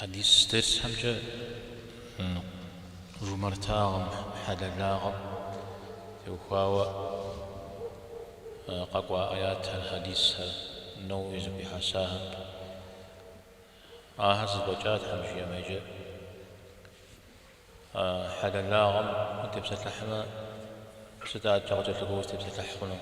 Хьэдис дерсхэмкӏэ жумартагъэм, хьэлэлагъэм теухуауэ къэкӏуа аятхэр, хьэдисхэр, Науи зэхуихьэсахэм. Ахэр зэфӏэкӏа Тхьэм жиӏэмэ. Иджы хьэлэлагъэм утепсэлъыхьмэ, сыт адэкӏэ къыкӏэлъыкӏуэу узытепсэлъыхь хъунур?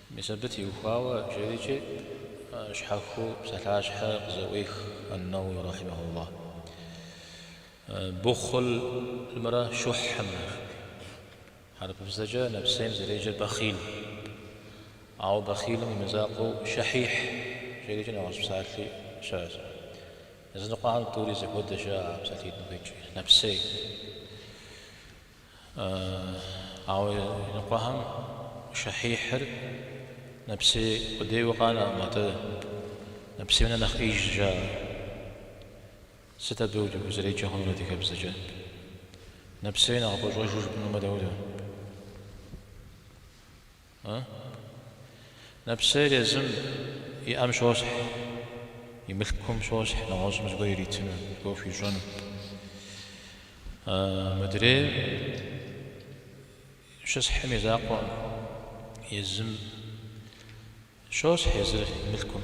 Мис абы теухуауэ жэрикӏи, щхьэхуэу псалъащхьэ къызэӏуех ан-Науи рахьимэхуллахь, бухълымрэ щухьымрэ жиӏэу. Хьэрыпыбзэкӏэ нэпсейм зэреджэр бэхъил. Ауэ бэхъилым и мызакъуэу щэхьихь жэрикӏи нэгъуэщӏ псалъи щыӏэщ. Языныкъуэхэм тӏури зэхуэдэщ жаӏэ а псалъитӏым къикӏ, нэпсей. Ауэ иныкъуэхэм щэхьихьыр нэпсей къудейуэ къанэкъым, атӏэ нэпсейм нэхъ нэхъ ӏеижщ жаӏэр. Сыт абы иджы узэреджэ хъунур адыгэбзэкӏэ? Нэпсей нэхъ къыпӏэщӏэжу жыпӏэнумэ дауэ? Нэпсейр езым иӏэм щосхь, и мылъкум щосхь нэгъуэщӏым зыгуэр иритыну, зыгуэр хуищӏэну. Мыдрейр щысхь и мызакъуэу, езым щосхь езыр и мылъкум.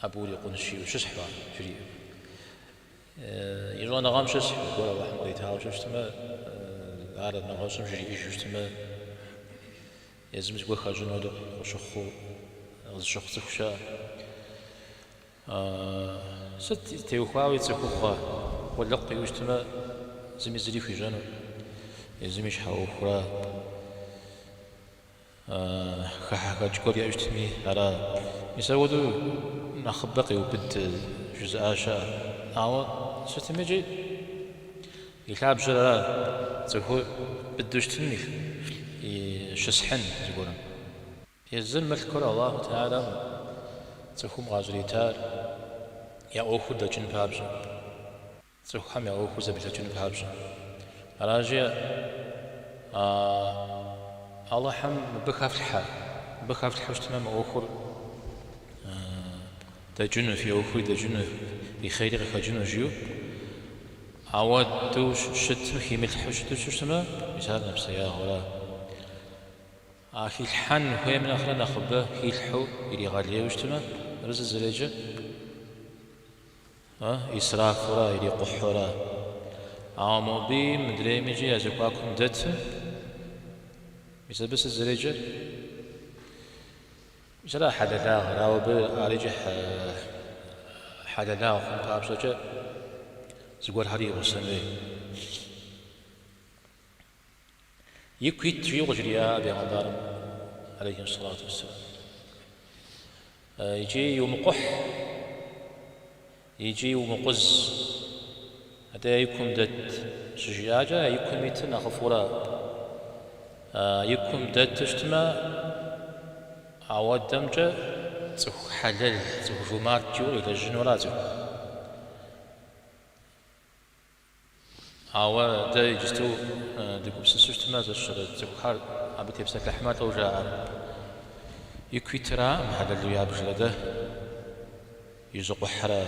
Абы урикъунщи, ущысхьу ар жриӏэу. И щӏэныгъэм щысхьу, зыгуэр Алыхьым къритауэ щыщытмэ, ар нэгъуэщӏым жриӏэжу щытмэ, езым зыгуэр хэщӏыну хуэдэу къыщыхъуу, къызыщыхъу цӏыху щыӏэ. Сыт теухуауи цӏыхугъэ, къулыкъу иӏэу щытмэ, зыми зыри хуищӏэну, езым и щхьэ ӏуэхура Хыхьэхэкӏ гуэр иӏэу щытми ара? Мис апхуэдэу нэхъыбэ къеубыд жызыӏа щыӏэщ. Ауэ сытми икӏи и лъабжьэр ара цӏыхур быдэу щытыным и щысхьын зыгуэрым. Езым мылъкур Аллаху Тэхьэлам цӏыхум къащӏритар я ӏуэхур дэкӏын папщӏэ. цӏыхухэм я ӏуэхур зэблэкӏын папщӏэ. Аращи, Алыхьым мыбы хэфлъхьэ, мыбы хэфлъхьэу щытмэ, мы ӏуэхур дэкӏыну, фи ӏуэхури дэкӏыну, фи хъери къыхэкӏыну, жиӏэу. Ауэдэу щытым, химылъхьэу щыту щыщытмэ, мис ар нэпсеягъэра. А хилъхьэн хуейм нэхърэ нэхъыбэ хилъхьэу иригъэлейуэ щытмэ, ар зызэреджэ. Исрафурэ ирикъухьурэ. Ауэ мобыи мыдрейми икӏи я зэхуакум дэтым, мис абы сыт зэреджэр? Мис ара хьэлэлагъэр? Ауэ абы ар икӏи хьэлэлагъ хъун папщӏэкӏэ зыгуэрхэр и гъусэн хуей. Ику ит, жиӏэу къыжриӏа Пегъэмбарым, алейхи салату уассалам. Икӏи иумыкъухь, икӏи иумыкъуз. Атӏэ икум дэт щыжиӏакӏэ, икум итыр нэхъыфӏурэ. Икум дэту щытмэ, ауэдэмкӏэ цӏыху хьэлэл, цӏыху жумарт жиӏэу къилэжьынура цӏыхухэм? Ауэ дэ иджысту дыгупсысу щытмэ, зэщэрэ цӏыхухэр абы тепсэлъыхьмэ, дауэ жаӏэрэ? Ику итыракъым хьэлэлу ябжыр, атӏэ изыкъухьра.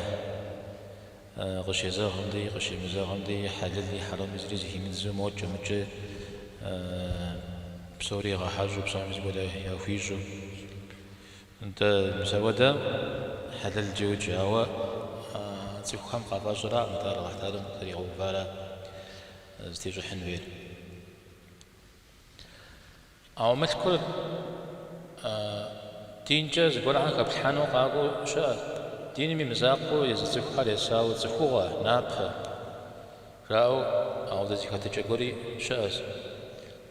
Къыщезэгъым деи, къыщемызэгъым деи, хьэлэли хьэрэми зыри зыхимыдзу мокӏи мыкӏи, псори игъэхьэщӏэу, псоми зыгуэр яхуищӏу. Нтӏэ, мис ауэдэ хьэлэлкӏэ йоджэ, ауэ цӏыхухэм къафӏэщӏыракъым, атӏэ Алыхь Тэхьэлам къытригъэувара зытещӏыхьын хуейр. Ауэ мылъкур динкӏэ зыгуэрхэм хэплъхьэну къакӏуэу щыӏэщ. Диным и мызакъуэу езы цӏыхухэр есауэ цӏыхугъэ, напэ. Жаӏэу, ауэдэ зы хэтыкӏэ гуэри щыӏэщ.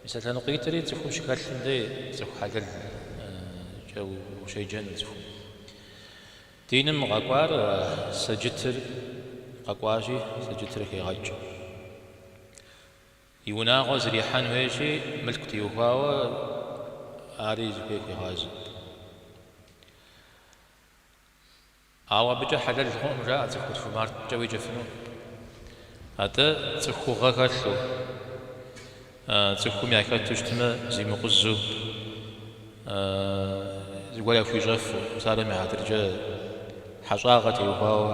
Мис а лъэныкъуитӏри цӏыхум щыхэлъым дей цӏыху хьэлэлкӏэ ущеджэну цӏыхум. Диным къэкӏуар сэджытыр къэкӏуащи, сэджытыр хегъэкӏ. И унагъуэ зэрихьэн хуейщи, мылъку теухуауэ ари зыхуей хуегъазэ. Ауэ абыкӏэ хьэлэл хъунукъым, жаӏэ цӏыху жумарткӏэ уеджэфыну. Атӏэ цӏыхугъэ хэлъу, цӏыхум яхэту щытмэ, зимыкъузу, зыгуэр яхуищӏэфу, псалъэм и хьэтыркӏэ хьэщӏагъэ теухуауэ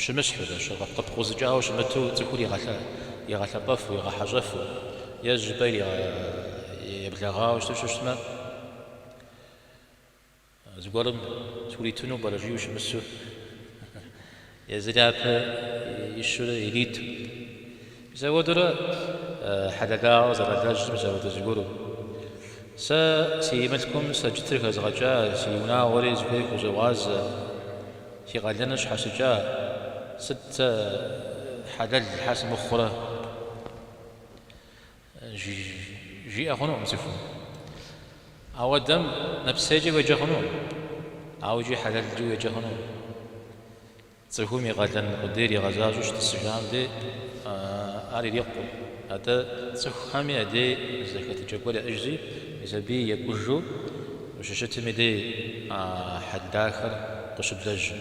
щымысхьу, къыпкъузыкӏауэ щымыту цӏыхур игъэлъэпӏэфу, игъэхьэщӏэфу, ежь жыпӏэ ириеблагъауэ щыту щыщытмэ, Зыгуэрым суритыну пӏэрэ жиӏэу щымысу, езыр япэ ищурэ ириту. Мис апхуэдэурэ хьэлэлагъэ зэралэжьыр, мис ауэдэ зыгуэру. Сэ си мылъкум сэджытыр хэзгъэкӏа, си унагъуэри зыхуей хузогъазэ, си къалэныр сщхьэщыкӏа, сыт сэ хьэлэл щхьэ сымыхъурэ? жиӏэ хъунукъым цӏыхум. Ауэдэм нэпсейкӏэ уеджэ хъунукъым, ауэ икӏи хьэлэлкӏи уеджэ хъунукъым. Цӏыхум и къалэн къудейр игъэзащӏэу щытӏысыжам дей ар ирикъукъым. Атӏэ цӏыхухэми я дей зэхэтыкӏэ гуэр яӏэжри, мис абы екӏужу ущыщытым и дей а хьэл дахэр къыщыблэжьыр.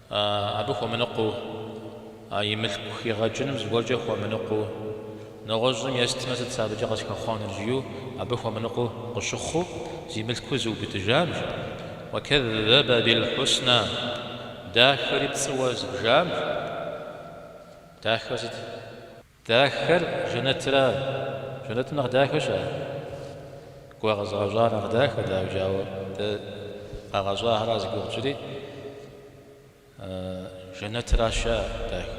Абы хуэмыныкъуэу, а и мылъку хигъэкӏыным зыгуэркӏэ хуэмыныкъуэу, нэгъуэщӏым естмэ, сыт сэ абыкӏэ къысхэхъуэнур, жиӏэу абы хуэмыныкъуэу къыщыхъуу, зи мылъкур зыубыдыжам жи. Уакэззэбэ бил-хьуснэ, дахэри пцӏыуэ зыбжам жи. Дахэр сыт? Дахэр жэнэтра? Жэнэтым нэхъ дахэ щыӏэ? Кӏуэ къэзыгъэщӏар нэхъ дахэт, ауэ ауэ дэ къагъэщӏахэра зи гугъу тщӏри, жэнэтращ ар дахэ.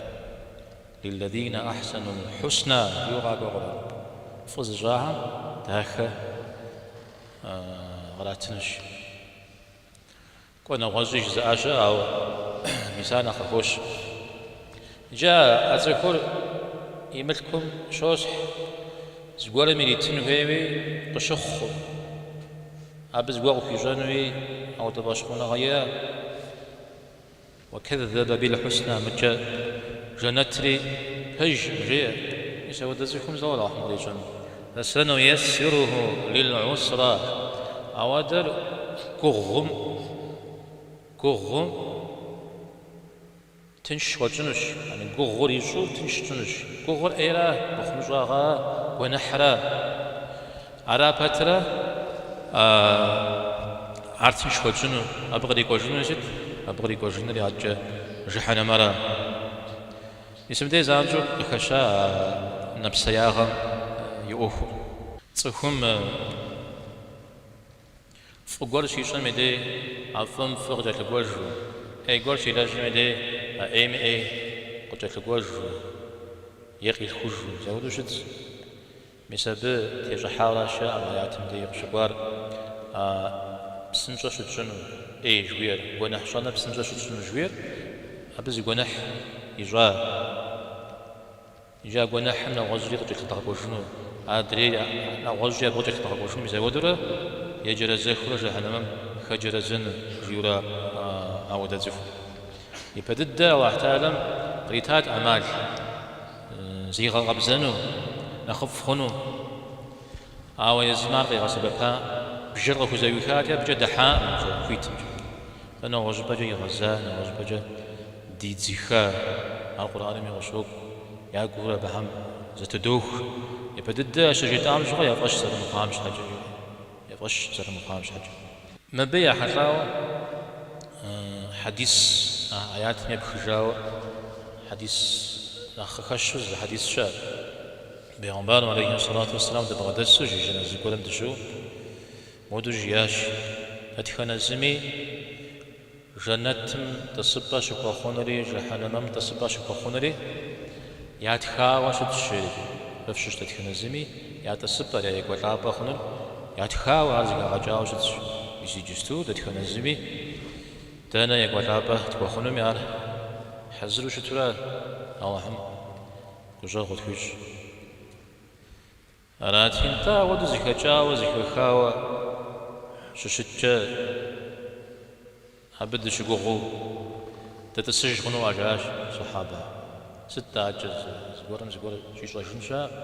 Лиллэдинэ ахьсэнул хьусна жиӏэу къакӏуэ къурӏэным. Фӏы зыщӏахэм дахэ къратынущ. Кӏуэ нэгъуэщӏи жызыӏа щыӏэщ, ауэ мис ар нэхъ къыхощ. Иджы а цӏыхур и мылъкум щосхь, зыгуэрым иритын хуейуи къыщыхъукъым, абы зыгуэр къыхуищӏэнуи ауэдэ фӏэщхъуныгъэ иӏэкъым. Уакэззэбэ бильхьуснэ, мыкӏэ жэнэтри пэжкъым, жеӏэ. Мис ауэдэ цӏыхум зауэ ирагъэхьэм къищӏэн? Фасануяссируху лил-гӏусра, ауэдэр гугъум, гугъум, тынш хуэтщӏынущ, яни гугъур ищӏу тынш щытщӏынущ. Гугъур ӏейра, мыхъумыщӏагъэ, гуэныхьрэ ара пэтрэ, ар тынш хуэтщӏыну, абы кърикӏуэжынури сыт? Абы кърикӏуэжынури адэкӏэ жыхьэнэмэ ара? Мис мыбдей занщӏэу къыхэща а нэпсеягъэм и ӏуэхур. Цӏыхум фӏы гуэр щищӏым и дей а фӏым фӏы къыкӏэлъыкӏуэжу, ӏей гуэр щилэжьым и дей а ӏейм ӏей къыкӏэлъыкӏуэжу е къилъхужу, мис ауэдэу щытщ. Мис абы тещӏыхьаращ мы аятым дей къыщыкӏуар, а псынщӏэ щытщӏыну, ӏей жыхуиӏэр, гуэныхь щӏэныр псынщӏэ щытщӏыну жыхуиӏэр, абы зы гуэныхь ищӏа икӏи а гуэныхьым нэгъуэщӏри къыкӏэлъыдгъэкӏуэжыну, адрей нэгъуэщӏи абы къыкӏэлъыдгъэкӏуэжыну мис ауэдэурэ еджэрэзэхыурэ жыхьэнэмэм хэджэрэзэну жиӏэурэ ауэдэ цӏыхум. Ипэ дыдэ Алыхь Теалэм къритат ӏэмал. зигъэкъэбзэну нэхъыфӏ хъуну, ауэ езым ар къигъэсэбэпакъым, бжэр къыхузэӏуихати, абыкӏэ дыхьакъым фӏы хуитымкӏэ. Фэ нэгъуэщӏыпӏэкӏэ игъэза, нэгъуэщӏыпӏэкӏэ дидзыха ар Къурӏэнми къыщокӏу, я гур абыхэм зэтыдох, япэ дыдэ ащыжетӏам щыгъуэ, я фӏэщ зэрымыхъуам щхьэкӏэ, я фӏэщ зэрымыхъуам щхьэкӏэ. Мыбы ехьэлӏауэ хьэдис а аятым епхыжауэ хьэдис нэхъ къыхэщу зы хьэдис щыӏэт. Бегъымбарым алейхи ссалату уэсселам дыбгъэдэсу жэназэ зыгуэрым дыщыӏэу модэу жиӏащ, Дэтхэнэ зыми, Жэнэтым тӏысыпӏэ щыхуэхъунури жэхьэнэмэм тӏысыпӏэ щыхуэхъунури ятхауэ щытщ, жери. Фщыщ дэтхэнэ зыми я тӏысыпӏэр, я екӏуэлӏапӏэ хъунур ятхауэ ар зыхэгъэкӏауэ щытщ. Мис иджысту дэтхэнэ зыми дэнэ екӏуэлӏапӏэ тхуэхъунуми ар хьэзыру щытурэ Алыхьым гущӏэгъу къытхуищӏ. Арати, нтӏэ ауэду зыхэкӏауэ, зыхэхауэ щыщыткӏэ, абы дыщыгугъыу дытӏысыж хъунуӏэ жаӏащ сэхьэбэ. Сыт адэкӏэ, зыгуэрым зыгуэр щӏищӏэжын щыӏэкъым,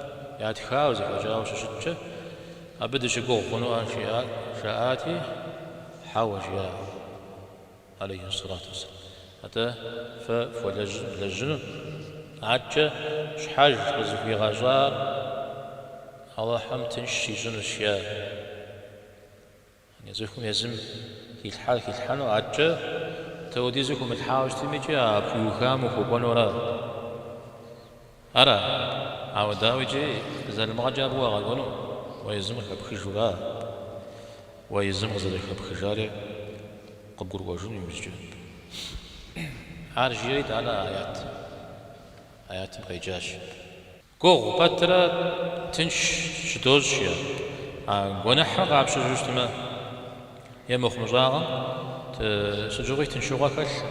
ятхауэ, зэхэкӏауэ щыщыткӏэ, абы дыщыгугъ хъунуӏэ, жаӏати, хьэуэ, жиӏащ. алейхи ссалату уассалам. Атӏэ фэ фхуэлэжьыну адэкӏэ щхьэж къызыхуигъэщӏар Алыхьым тынш щищӏынущ е цӏыхум езым хилъхьар хилъхьэну адэкӏэ тӏэудизу хумылъхьауэ щытми икӏи а пхуиухам ухуэкӏуэнура? Ара? Ауэ дауэ икӏи залымыгъэкӏэ абы уагъэкӏуэну? Уэ езым къыхэпхыжура? Уэ езым къызэрыхэпхыжари къыбгурыӏуэжыну иужькӏэ. Ар жиӏэри итӏанэ аят аятым къеджащ. Гугъу пэтрэ тынш щыдощӏ е а гуэныхьыр къапщыжу щытмэ, е мыхъумыщӏагъэм сыт щыгъуи тыншыгъуэ хэлъкъым.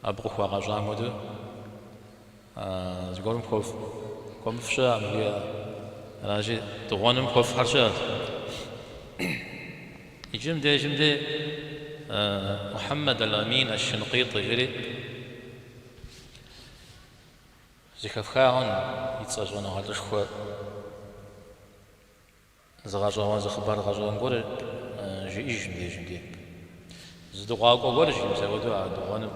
Абы къыхуагъэщӏам хуэдэу, зыгуэрым хуэфӏ хуэмыфӏ щыӏэкъым жиӏэ. Аращи, дыгъуэным хуэфӏхэр щыӏэт. Иджым дежым де Мухьэммэд Аль-Амин Ащ-Щынкъитӏы жери зэхэфхагъэн и цӏэ щӏэныгъэлӏышхуэ. Зы гъэщӏэгъуэн, зы хъыбар гъэщӏэгъуэн гуэр жиӏэж мыбдежым ди. Зы дыгъуакӏуэ гуэр жи, мис апхуэдэу а дыгъуэным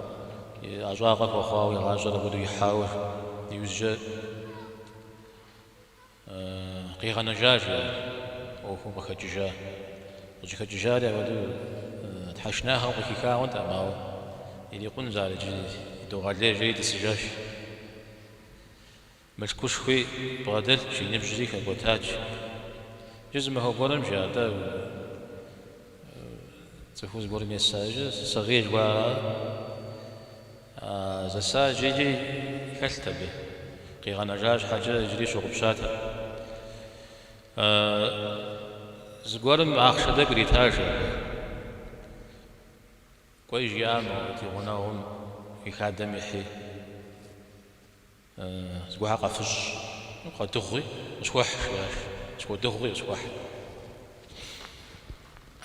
и ӏэщӏагъэ хуэхъуауэ, и гъащӏэр апхуэдэу ихьауэ иужькӏэ къигъэнэжа жи ар, ӏуэхум къыхэкӏыжа. Къыщӏыхэкӏыжари апхуэдэу тхьэшынагъэм къыхихауэнтэкъым, ауэ ирикъунщ ар иджы, идогъэлей жери тӏысыжащ. Мылъкушхуи бгъэдэлъщ, и ныбжьри хэкӏуэтащ. Иджы зы махуэ гуэрым жи, атӏэ, цӏыху зыгуэрым еса иджы, Сэгъиел гуара, а зэса иджыри хэлът абы, къигъэнэжа щхьэкӏэ иджыри щыгъупщатэкъым. Зыгуэрым ахъшэ тӏэкӏу иритащ абы. Кӏуэи, жиӏа, мо ди гъунэгъум и хадэм ихьи. Зыгуэрхэ къэфыщӏ, къэдыгъуи къысхуэхь, жиӏащ. Къысхуэдыгъуи къысхуэхь.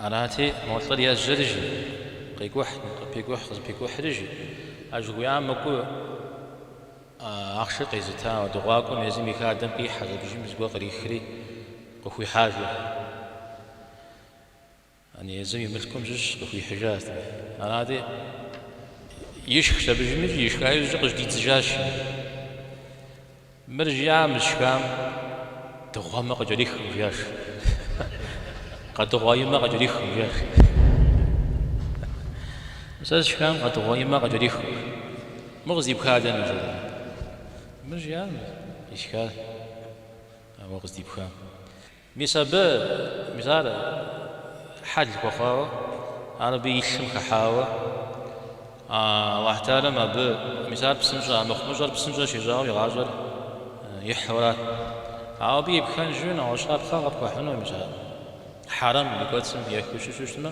Арати, мо лӏыр ежьэри, жи, къекӏухь, къыпекӏухь, къызыпекӏухьри, жи. Ар жыхуиӏам мыкӏуэу ахъшэр къезыта дыгъуакӏуэм езым и хадэм къихьэщ, абдежым зыгуэр кърихри, къыхуихьа, жиӏэ. Яни езым и мылъкум щыщ къыхуихьыжащ. Арати, ишхщ абдежым икӏи ишха иужькӏэ къыжьэдидзыжащ. Мыр жиӏа мы сшхам, дыгъуэмэ къыкӏэрихкъым, жиӏащ. Къэдыгъуа и мэ къыкӏэрихкъым, жиӏащ. Сэ сшхам къэдыгъуа и мэ къыкӏэрихкъым. Мыр къыздипха дэнэ, жиӏэ. Мыр жиӏа мы сшхар уэ къыздипхам. Мис абы, мис ар хьэл хуэхъуауэ, ар абы и лъым хыхьауэ, Аллахь Тхьэарэм абы, мис ар псынщӏэ, а мыхъумыщӏэр псынщӏэ щищӏауэ и гъащӏэр ихьурат. Ауэ абы и пхэнжу нэгъуэщӏ щапхъэ къыпхуэхьыну, мис ар хьэрэм ди кӏуэцӏым ехыу щыщу щытмэ,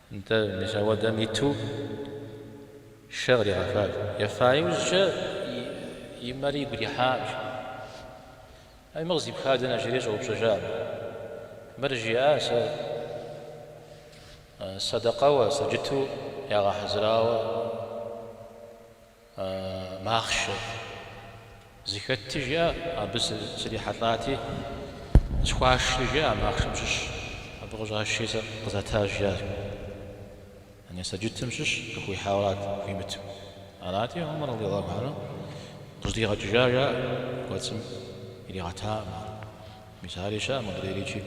Нтӏэ, мис апхуэдэм иту шэ къригъэфат. Ефа иужькӏэ и мэр игу ирихьащ. Ай, мыр къыздипха дэнэ? жери щӏэупщӏэжат. Мыр жиӏа сэ сэдэкъэуэ, сэджыту ягъэхьэзырауэ? махъшэ зыхэтти, жиӏэ, абы срихьэлӏати, къысхуашри, жиӏэ, а махъшэм щыщ абы къыщӏашри сэ къызатащ, жиӏар. Яни сэджытым щыщ къыхуихьауэрат, хуимыту. Арати, Умар радиаллаху анху къыжьэдигъэкӏыжа, жаӏэ, кӏуэцӏым иригъэтакъым ар. Мис ари щыӏэ мыдрейрикӏи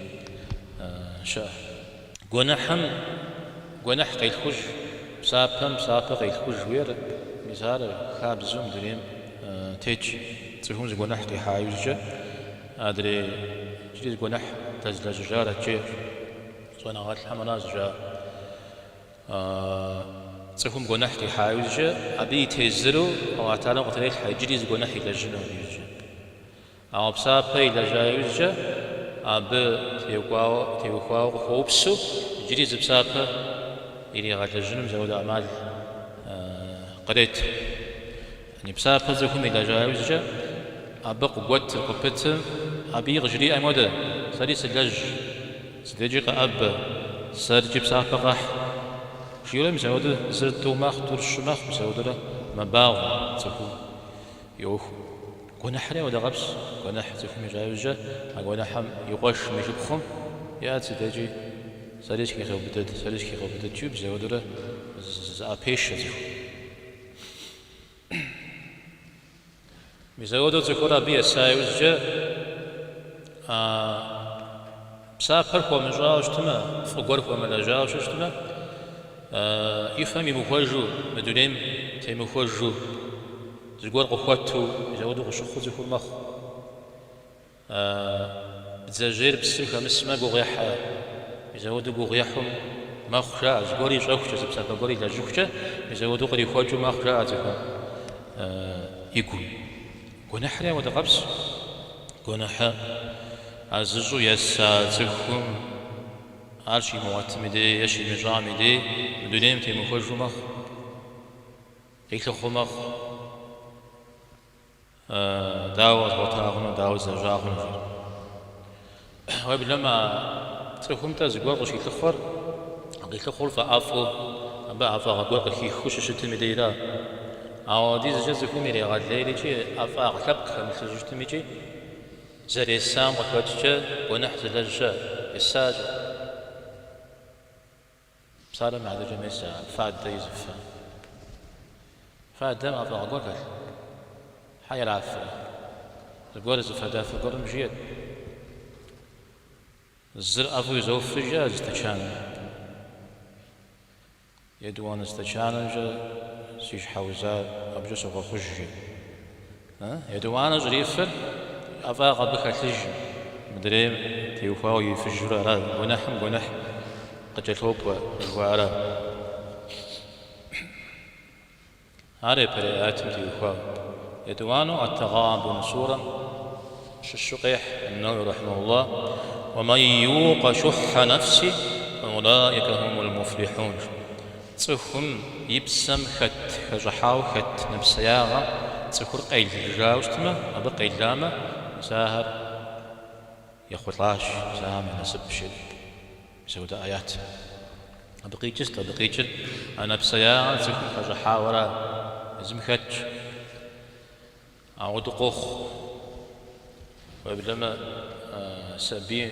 щыӏэ. Гуэныхьым гуэныхь къелъхуж, псапэм псапэ къелъхуж жиӏэр мис ар хабзэу мы дунейм тетщ. Цӏыхум зы гуэныхь къихьа иужькӏэ адрей иджыри зы гуэныхь дэзлэжьыжар ткӏи щӏэныгъэлӏхэм ара зыжаӏэр. Цӏыхум гуэныхь къихьа иужькӏэ абы и тезыру Алыхьу Тэхьэлам къытрелъхьэ иджыри зы гуэныхь илэжьыну абы иужькӏэ. Ауэ псапэ илэжьа иужькӏэ абы теухуауэ къыхуэупсу иджыри зы псапэ иригъэлэжьыным мис ауэдэ ӏэмал кърет. Яни псапэ цӏыхум илэжьа иужькӏэ абы къыгуэтыр къыпытым, абыи къыжриӏэм хуэдэ, Сэри сылэжь, си дежкӏи къэӏэбэ, сэркӏи псапэ къэхь, жиӏэри мис ауэдэ зыр тӏу мэхъу, тӏур щы мэхъу, мис ауэдэрэ мэбагъуэ, цӏыхум йоху. Гуэныхьри ауэдэ къабзэ, гуэныхь цӏыхум ищӏа иужькӏэ а гуэныхьым и къуэшым и шыпхъум иӏэт си дежкӏи, сэри схигъэубыдэт, сэри схигъэубыдэт-кӏи мис ауэдэурэ зыӏэпешэ цӏыхум. Мис ауэдэу цӏыхур абы еса иужькӏэ а. Псапэр хуэмыщӏауэ щытмэ, фӏы гуэр хуэмылэжьауэ щытмэ, и фэм имыхуэжу, мы дунейм темыхуэжу зыгуэр къыхуэту мис-ауэдэу къыщыхъуу цӏыхур мэхъу. Бдзэжьейр псым хэмысмэ, гугъу ехьэ, мис-ауэдэу гугъу ехьу мэхъу, жаӏэ. Зыгуэр ищӏэхукӏэ, зы псапэ гуэр илэжьыхукӏэ, мис-ауэдэу кърихуэкӏыу мэхъу, жаӏэ цӏыхум и гум. Гуэныхьри апхуэдэ къабзэ. Гуэныхьыр ар зыщӏу еса цӏыхум, ар щимыгъуэтым и дей е щимыщӏам и дей мы дунейм темыхуэжу мэхъу, къилъыхъуэу мэхъу. Дауэ къэзгъуэта хъуну, дауэ злэжьа хъунущ ар. Уеблэмэ а цӏыхум-тӏэ зыгуэр къыщилъыхъуэр, къилъыхъур фӏэӏэфӏу абы ӏэфӏагъэ гуэр къыхихыу щыщытым и дейра? Ауэдизкӏэ цӏыхум ирегъэлейр икӏи ӏэфӏагъ лъэпкъ хэмылъыжу щытмикӏи зэресам къыхэкӏкӏэ гуэныхь зылэжьэ, есащ. Псалъэм щхьэкӏэ мес а фадэ изыфэ. Фадэм ӏэфӏагъ гуэр хэлъ. Хьэ ирафэ. Зыгуэр зы фадафэ гуэрым жиӏэт. Зыр ӏэфӏу изоф, жи, зы стэчаным. Етӏуанэ стэчанымкӏэ си щхьэузыр абыкӏэ согъэхъуж, жи. Етӏуанэ щӏрифыр ӏэфӏагъ абы хэлъыжым, мыдрейм теухуауэ ирифыжурэ ара гуэныхьым гуэныхь къыкӏэлъокӏуэ жыхуаӏэр ара. Ар япэрей аятым теухуауэ. Етӏуанэу Эт-Тэгъабун сурэм Щыщу къехь Нэуэуи рэхьимэхуллахь, Уэ мэн юкъэ шухьэ нэфсихи фаулаика хумул муфлихьун, жи. Цӏыхум и псэм хэт хэщӏыхьауэ хэт нэпсеягъэ цӏыхур къелыжауэ щытмэ, абы къеламэ, мис ахэр ехъулӏащ, мис ахэм я насып щыӏэщ. Мис апхуэдэ ӏэят абы къикӏыр, абы къикӏыр а нэпсеягъэр цӏыхум хэщӏыхьауэра, езым хэтщ. Ауэдэу къохъу, уеблэмэ сабий,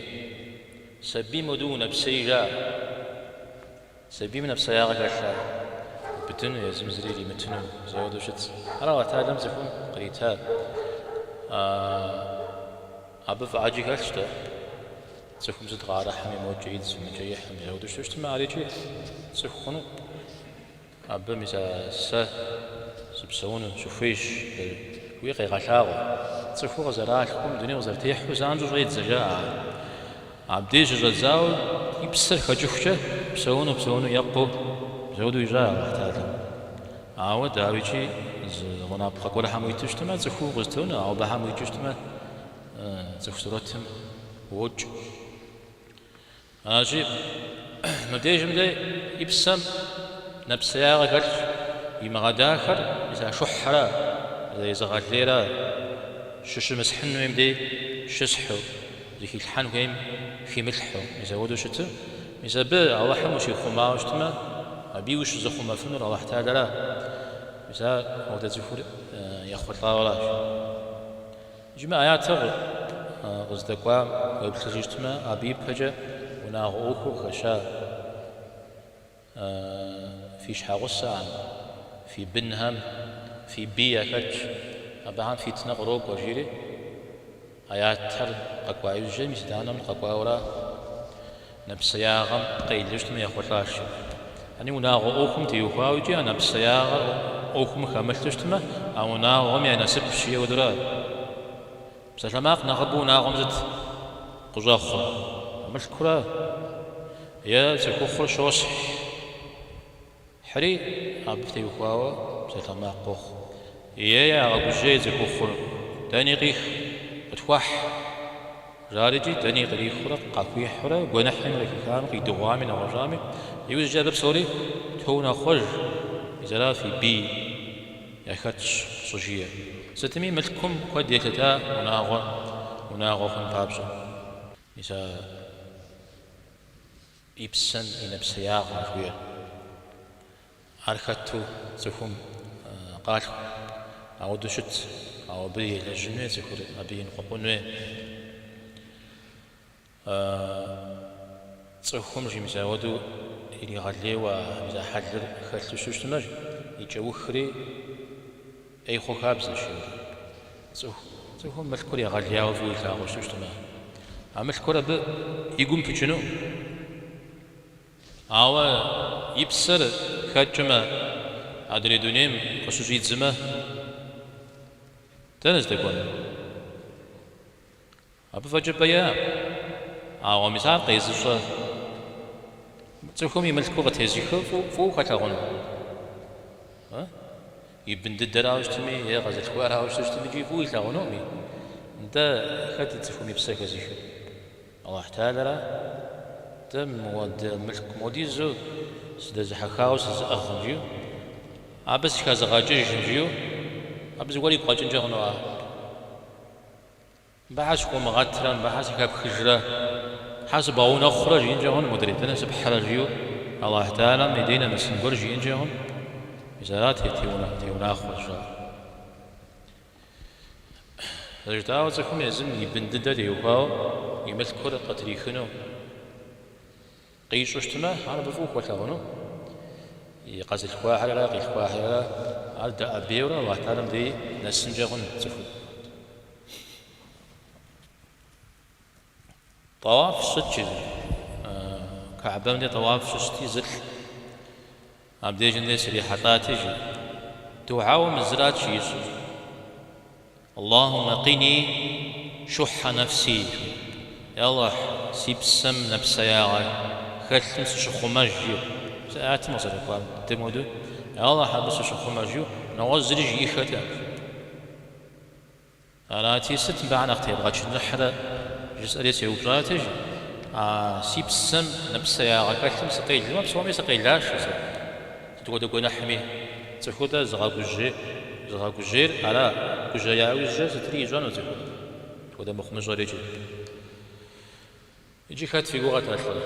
сабийм ауэдэу нэпсей жаӏэ, сабийм нэпсеягъэ хэлъа, быдыну, езым зыри иримытыну, мис ауэдэу щытщ. Ар Алыхьталэм цӏыхум кърита. Абы фӏы ӏэджи хэлъщ дэ, цӏыхум зыт къыӏэрыхьэми, мокӏэ идзым, мыкӏэ ихьым, мис ауэдэу щытмэ, арикӏи цӏыху хъуну. Абы мис а сэ сыпсэуну сыхуейщ, жыхуиӏи къегъэлъагъуэ. Цӏыхуу къызэралъхум, дунейм къызэрытехьэу занщӏэу щӏедзэ, жаӏэ ар. Абдеж щыщӏэдзауэ и псэр хэкӏыхукӏэ, псэуну, псэуну екъуу, мис ауэдэу ищӏа Алыхьталэм. Ауэ, дауикӏи, зы гъунапкъэ гуэрхэм уиту щытмэ, цӏыхуу укъызэтонэ, ауэ абыхэм уикӏыу щытмэ, цӏыху сурэтым уокӏ. Ащи, мыбдежым дей и псэм нэпсеягъэ хэлъщ, имыгъэдахэр мис а шухьэра, мис а езыгъэлейра щыщымысхьын хуейм дей щысхьу, зыхилъхьэн хуейм химылъхьу, мис ауэдэу щыту, мис абы Алыхьым ущихъумауэ щытмэ, абыи ущызыхъумэфынур Алыхьталэращ, мис ауэдэ цӏыхур ехъулӏауэращ. Иджыми ӏэятыр къыздэкӏуам уеплъыжу щытмэ, абы ипэкӏэ унагъуэ ӏуэхур хэща фи щхьэгъусэхэм, фи бынхэм, фи бий яхэтщ, абыхэм фитнэ кърокӏуэ, жиӏэри, ӏэятыр къэкӏуа иужькӏэ мис итӏанэм къэкӏуауэра? Нэпсеягъэм къелу щытмэ ехъулӏащ, жи. Ани унагъуэ ӏуэхум теухуауэ икӏи а нэпсеягъэр ӏуэхум хэмылъу щытмэ, а унагъуэм я насыпщ, ауэдэура. Псалъэмакъ нэхъыбэу унагъуэм зыт къыщӏэхъур, мылъкура е цӏыхухъур щосхь. Хьри, абы теухуауэ псалъэмакъ къохъу. Е-е, ягъэгужьей цӏыхухъур, дэни къих, къытхуэхь! жаӏэрэ икӏи дэни кърихыурэ къахуихьурэ гуэныхьми кърихами къидыгъуами нэгъуэщӏами, иужькӏэ абы псори тоунэхъуэж, мис ара фи бий яхэтщ щӏыжиӏэ. Сытми, мылъкум куэд елъыта унагъуэ унагъуэ хъун папщӏэ. Мис а. и псэм и нэпсеягъым хуей. Ар хэту цӏыхум къалъху, ауэдэу щыт, ауэ абы елэжьын хуей цӏыхур, абы иныкъуэкъун хуей. Цӏыхум жи, мис ауэдэу иригъэлейуэ а зы хьэлыр хэлъу щыщытмэ, и кӏэухри, Ӏей хъу хабзэщи. Цӏыху цӏыхум мылъкур егъэлеяуэ фӏыуэ илъагъуу щыщтмэ, а мылъкур абы и гум пыкӏыну? Ауэ и псэр хэкӏмэ, адрей дунейм къыщыщӏидзмэ, дэнэ здэкӏуэнур? Абы фӏэкӏэ бэякъым. Ауэ мис ар къезыщӏэ цӏыхум и мылъкур къытезыхыу фӏыуэ хуэлъэгъуну? И бын дыдэрауэ щытми е къэзылъхуарауэ щыщытми икӏи фӏыуэ илъагъунукъым. Нтӏэ, хэт цӏыхум и псэ хэзыхыр? Алыхь Тэхьэлэра? Нтӏэ мыуэдэ мылъку модизу сыдэзыхьэхауэ сызыӏыгъым, жи, абы сыхэзыгъэкӏыжым, жи, абы зыгуэр игу къэкӏынкӏэ хъунуӏа? Абы щхьэ сыхыумыгъэтрэ, абы щхьэ сыхэпхыжрэ, щхьэ сыбгъэунэхъурэ жиӏэнкӏэ хъун, модрей дэнэ сыпхьрэ, жиӏэу Алахь Тэхьэлэм и дей нэмысын гуэр жиӏэнкӏэ хъун. Мис арат зытеунэхъуэжыр. Зэрыжытӏауэ, цӏыхум езым и бын дыдэр теухуауэ и мылъкур къытрихыну. Къищӏэу щытмэ, ар абы фӏыуэ хуэлъэгъуну, и къэзылъхуахьэррэ къилъхуахьэррэ ар дэӏэбейуэрэ Аллахь Тэхьэлэм дей нэсынкӏэ хъун цӏыхур. Тӏэуаф сщӏыт, жи, Кэӏэбэм де тӏэуаф щысщӏыти, зылӏ. Абдежым дей срихьэлӏати, жи, дуӏэу мы зырат ищӏыр, Аллахумэ къини шухьэ нэфси, жи, Я Аллахь, си псэм нэпсеягъэ хэлъым сыщыхъумэж, жи, зы аятым къызэрыкӏуам дыдэм хуэдэу, Я Аллахь, абы сыщыхъумэж, жи, нэгъуэщӏ зыри жиӏиххэт. Арати, сыт мыбы щхьэ нэхъ тебгъэчыныхьрэ? жысӏэри сеупщӏат, жи, а си псэм нэпсеягъэ хэлъым сыкъелмэ, псоми сыкъелащ сэ. Сыт хуэдэ гуэныхьми цӏыхур, нтӏэ, зыгъэгужьейр ара? Гужьея ужькӏэ сытри ищӏэну цӏыхум, сыт хуэдэ мыхъумыщӏэри икӏи. Иджы хэт фи гугъэт а лӏыр?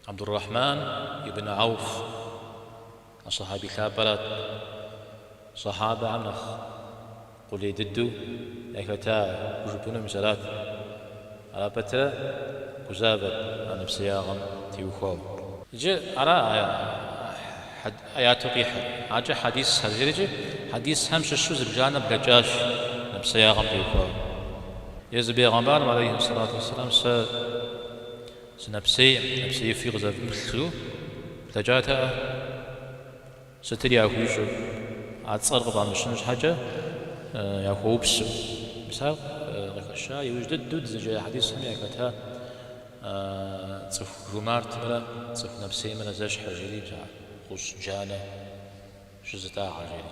Абдур-Рахьман ибн Гӏауф а сахьэби лъапӏэрат, сахьабэхэм нэхъ къулей дыдэу яхэта хужыпӏэну мис арат, ара пэтрэ гузавэт а нэпсеягъэм теухуауэ. Иджы ара аяту къихьыр, аркӏэ хьэдисхэркӏи хьэдисхэм щыщу зыбжанэ блэкӏащ нэпсеягъэм теухуауэ, Езы Бегъэмбарым алейхьи сэлату уэссэлам, Сынэпсей нэпсеифи къызэвмыплъу блэкӏатэӏэ, сытыр яхуищӏыр, а цӏэр къыфӏамыщыну щхьэкӏэ яхуэупсу. Мис ар къыхэща иужь дыдэу дызэджа хьэдисхэм яхэта цӏыху жумартымрэ цӏыху нэпсеймрэ зэщхьэ жери, бзэ гъущӏ джанэ щызытӏагъэ жери.